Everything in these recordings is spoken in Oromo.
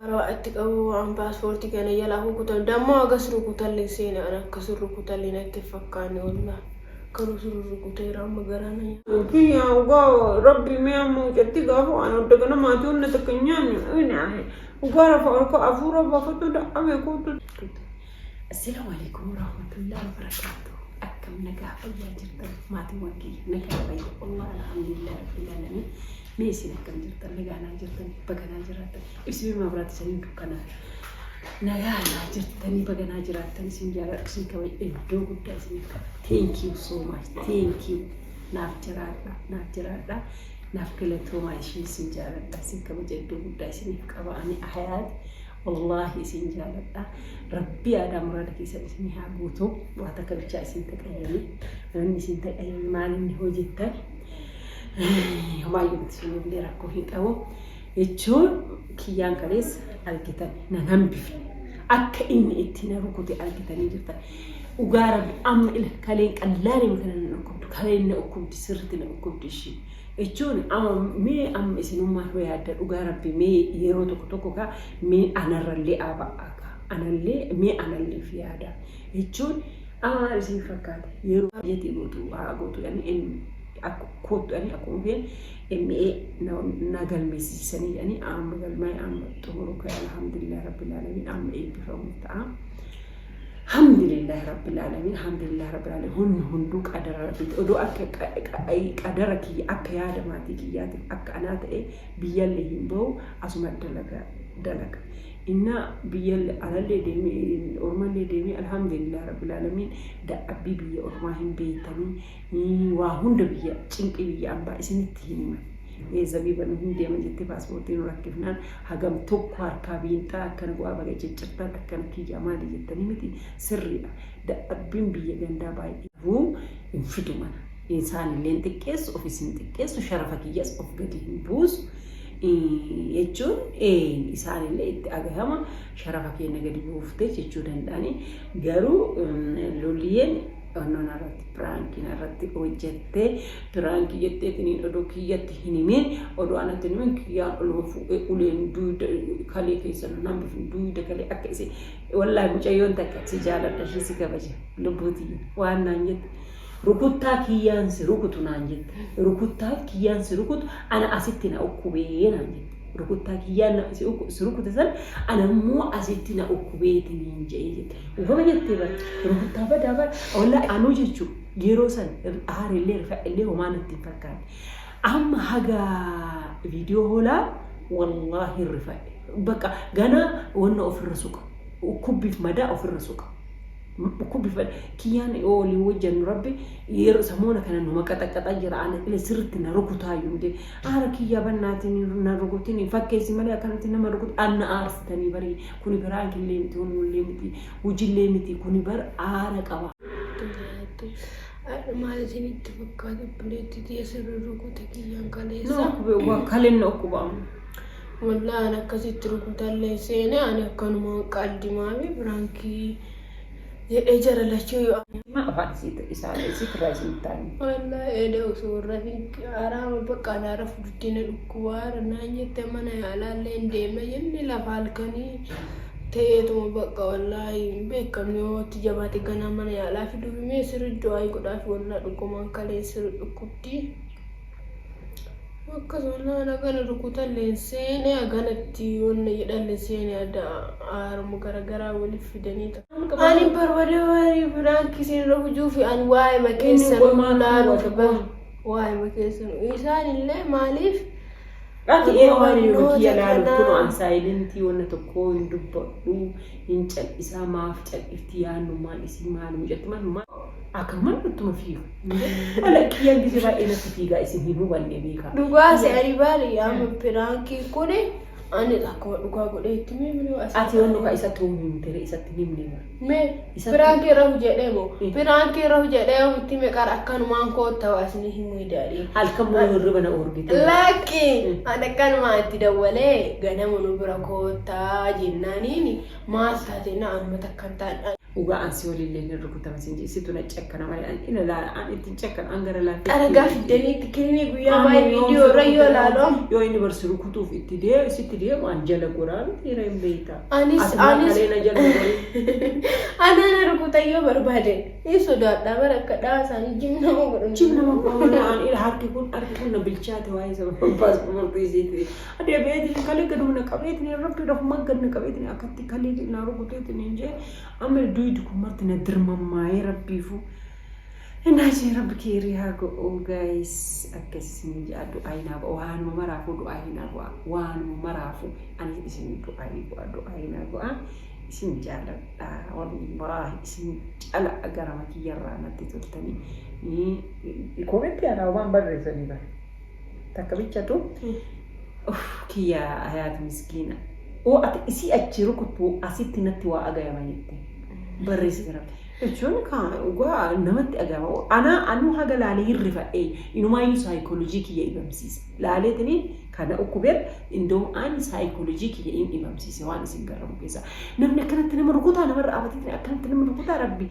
Karaa itti qabu waan paaspoortii kana jalaa kukutan dammoo agas rukutalleen seena an akka sun rukutallee natti hin fakkaanne wallah garuu sun rukuteera amma garaa na nyaata. Rabbi yaa dhugaa rabbi mee amma mucatti gaafa waan adda gana maatii wanna takka hin nyaanne dhugaa rafa olka afuura baafatu da'ame kootu. Assalam alaikum warahmatullahi wabarakatuh akkam nagaa fayyaa jirtan maatiiwwan kiyya nagaa fayya Allah alhamdulillah rabbil alamin mee isin akkam jirtan nagaa naa jirtan baga naa jiraattan ibsime maabiraatti saniin dukkana nagaa naa jirtanii baga naa jiraattan isin jaaladhu isin kabaj iddoo guddaa isiniif qaba thank you so much thank you naaf jiraadha naaf jiraadha naaf galatoomaa ishiin isin jaaladha isin kabaja iddoo guddaa isiniif qaba ani hayaat Wallahi isin jaaladha rabbii aadaa muraada keessan isin haa guutu waa takka bichaa isin taqayyame wanni isin taqayyame maalinni hojjettan homaayyuu isin illee rakkoo hin qabu jechuun kiyyaan kalees argitan nan hambifne akka inni itti na rukute argitanii jirtan dhugaa rabbi amma ila kaleen qallaaniin kana na dhukkubdu kaleen na dhukkubdi sirritti na dhukkubdi ishii Ichoon ama mee amma isinummaan hoo yaadda dhugaa rabbi mee yeroo tokko tokko kaa mee anarrallee aaba akka anallee mee analleef yaada ichoon ama maal isin fakkaate yeroo biyyatii gootu haa gootu yani en akku koottu yani akkuma keen MA na, na galmeessisisanii yani amma galmaa'e amma xumuru ka'e alhamdulillah rabbil alamin amma eebbifamu ta'a. Hamdulillah rabbil alamin hamdulillah rabbil alamin hunni hunduu qadara rabbiiti odoo akka qadara kiyya akka yaada maatii kiyyaatiif akka anaa ta'e biyyallee hin bahu asuma dalaga dalaga innaa biyyalle alallee deemee ormallee deemee alhamdulillah rabbil alamin dadhabbii biyya ormaa hin beeytanii Hii waa hunda biyya cinqii biyya ambaa isinitti hin himan ee zabiba nu hin deema jettee paaspoortii nu rakkifnaan hagam tokko harkaa biinxaa akkana bu'aa baga ciccirtaan akkana kiyyaa maali jettanii miti sirriidha dadhabbiin biyya gandaa baay'ee garuu hin fidu mana isaanillee hin xiqqeessu ofis hin xiqqeessu sharafa kiyyas of gadi hin buusu jechuun ee isaanillee itti agahama sharafa keenna gadi buuftee jechuu danda'anii garuu loliyeen Fannoo narratti piraanki narratti hojjette piraanki jetteetiniin odoo kiyyatti hin himin odoo anatti hin himin kiyyaan oluma fuudhee uleen duuda kalee keessa nan hambifne duuda kalee akka isin wallaahi mucayyoon takka si jaaladha ishee si kabaja lubbuutii waan naan jette rukuttaa kiyyaan si rukutu naan jette rukuttaaf kiyyaan si rukutu ana asitti na ukkubee naan jette. rukuttaa kiyyaan na- si ukku- si rukute san ana immoo asitti na ukkubeeti niin jedhee jette. Ufama jettee bara rukuttaa badaa bara walla anuu jechuu yeroo san aarellee rifadhellee homaa natti hin fakkaanne. Amma haga viidiyoo hoolaa wallaahi hin rifadhe. Bakka ganaa wanna ofirra suqa. Ukkubbiif madaa ofirra suqa. Kubbifadhe. Kiyyaan yoo waliin hojjannu rabbi yeroo samoona kana numa qaxaqqaxaa jira ana ile sirritti na rukutaa yunde aara kiyyaa bannaatiin na rukutin fakkeessi malee akkanatti nama rukut anna aarsitanii barii kuni biraanki illee miti wanni illee miti hujillee miti kuni bar aara qaba. Duraatti har'a maal isinitti fakkaata obboleetti tiyya sirri rukute kiyyaan kaleessa. No, wa- kalen no kubamu. Wallahi an akkasitti rukutallee seene ani akkanumaan qaldi maami biraankii jedhee jara lachuu yoo Amma afaan isiit isaan isiit irraa isiin taa'in. Wallahi eeda osoo hin rafin araama bakka anaa rafu didde na dhukkubaara naan jette mana yaalaallee hin deemna jenne lafa halkanii ta'eetuma bakka wallahi hin beekamne yoo itti jabaate ganaa mana yaalaa fiduuf mee sirri du'aayi godhaaf wallahi dhugumaan kalee sirri dhukkubdi. Akkasuma naan hagana rukutalleen seene haganatti wanna jedhalle seene adda haaruma garagaraa waliif fidanii ani barbada warii biraanki isinirra hujuufi ani waa'ima keessan laaluuf bar waa'ima keessan isaan illee maaliif Dhaqi ee waan yoo kiyya laalu kun an saayilentii wanna tokkoo hin dubbadhu hin cal'isaa maaf cal'ifti yaannumaan isii maal mucatti manumaa. Akaman nutti ulfiiru. Ana kiyyaan gisee baay'ee natti fiigaa isin hin hubanne beekaa. Dhugaa si aribaale yaama piraankii kuni ani akkuma dhugaa godhee itti miimni as. Ati yoon dhugaa isatti hoo himte ree isatti himne bara. Me Isatti- piraankii rahu jedhee moo Mm. piraankii rahu jedhee yoo itti meqar akkanumaan kootta waasni himuu idaadhee. Halkan moo hirriba na oorgite. Lakki Mm. ani akkanumaa itti dawwalee ganama nu bira koottaa jennaaniin maal taate na amma takkan taadha. Dhugaa an si waliin illee hin rukutama sin jee situ na cekkana malee an ina laala an ittiin cekkanu an gara laafee Aragaa fiddanii itti kennee guyyaa Ani baay'ee yoom viidiyoo si irra yoo rukute ilaalu. yoo inni barsi rukutuuf itti deemu sitti deemu an jala goraa miti hira hin beeyta Anis Ati maa anis kalee na jala gorii anaana rukutayyoo barbaade hin sodaadha bara akka dhaa isaanii jim nama godhan. Cim nama goona an ila harki kun harki kun na bilchaate waa'ee sababa paaspoortii isiiti. deebi'eetiin kalee gaduma na qabeetiin rabbi rahumaan gad na qabeetiin akkatti kalee na rukuteetiin hin jee amma duydi kun marti na dirmammaa'ee rabbiifu innaa jee rabbi keerii haa go'uu gaayis akkas isinii jaa du'aa hin haa go'a waanuma maraafuu du'aa hin haa go'a waanuma maraafuu ani isinii du'aa hin go'a du'aa hin haa go'a isin jaaladha wallaahi isin cala garama kiyyarraa natti toltanii koometti yaa dhaabaan barreessanii bara takka bichatu of kiyya hayaat miskiina oo ati isii achii rukuttu asitti natti waa agayama jette barreessi gara jechuun kaa dhugaa namatti agayama anaa anuu haga laalee hin rifadhee inumaayyuu saayikoolojii kiyya dhibamsiise laaleetini kana ukkubeer indoom aan saayikoolojii kiyya hin dhibamsiise waan isin garramu keessa namni akkanatti nama rukutaa namarra abateetini akkanatti nama rukutaa rabbi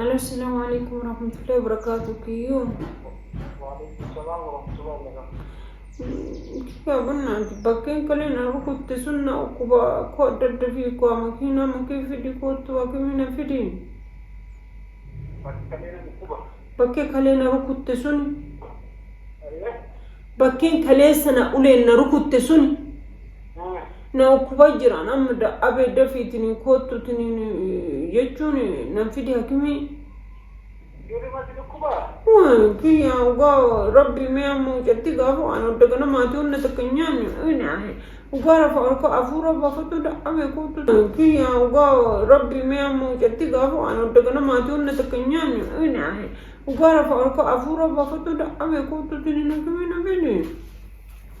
Alo, assalamu alaikum warahmatullahi wabarakatuh. Kiyyoo. Kiyyoo bunna bakkeen kaleen argu kutte sunna ukkuba koo adda adda fi koo makiinaa makee fidi koottu hakimina fidi. Bakkee kalee na rukutte suni. Bakkeen kaleessa na uleen na rukutte suni. na dhukkuba jira nam abe dafiitiin koottu tiniin jechuun nan fidi hakimii Ijoolleematti dhukkubaa? kiyya ugaa rabbii mee amma mucatti gaafa waan adda gana maatii hunda takka hin nyaanne inaahe ugaa rafa harka afuura baafatu da'abe kootu kiyya ugaa rabbii mee amma mucatti gaafa waan adda gana maatii hunda takka hin nyaanne inaahe ugaa rafa harka afuura baafatu da'abe kootu tiniin hakimii na fidi.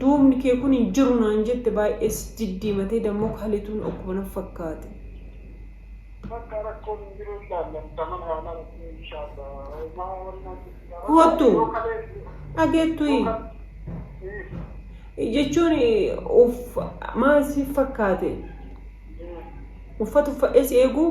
duubni kee kun hin jiru naan jette baay'ee si diddiimatee dammoo kalituun okkuma na fakkaate. Bakka rakkoon hin jiru ilaallan taman haalaan itti inshaalla homaa wani naan jette kaa bakka Koottu yoo kalee yoo dhageettuyi kal ii jechuun uff maal si fakkaate ii uffata uffadhee si eeguu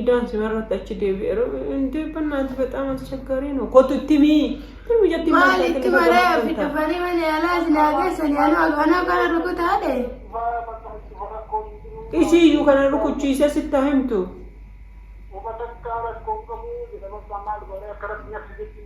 Idaan simarratti achi deebi'eera. Deebbannaa ati bexaam aschaggaarii noo kottu itti mii. Ilmi jatti maal itti maree ofi dhufanii malee alaa isin haageessanii anoo anoo kana rukutaa ta'e. Ishii iyyuu kana rukuchiisee sitti haa himtu.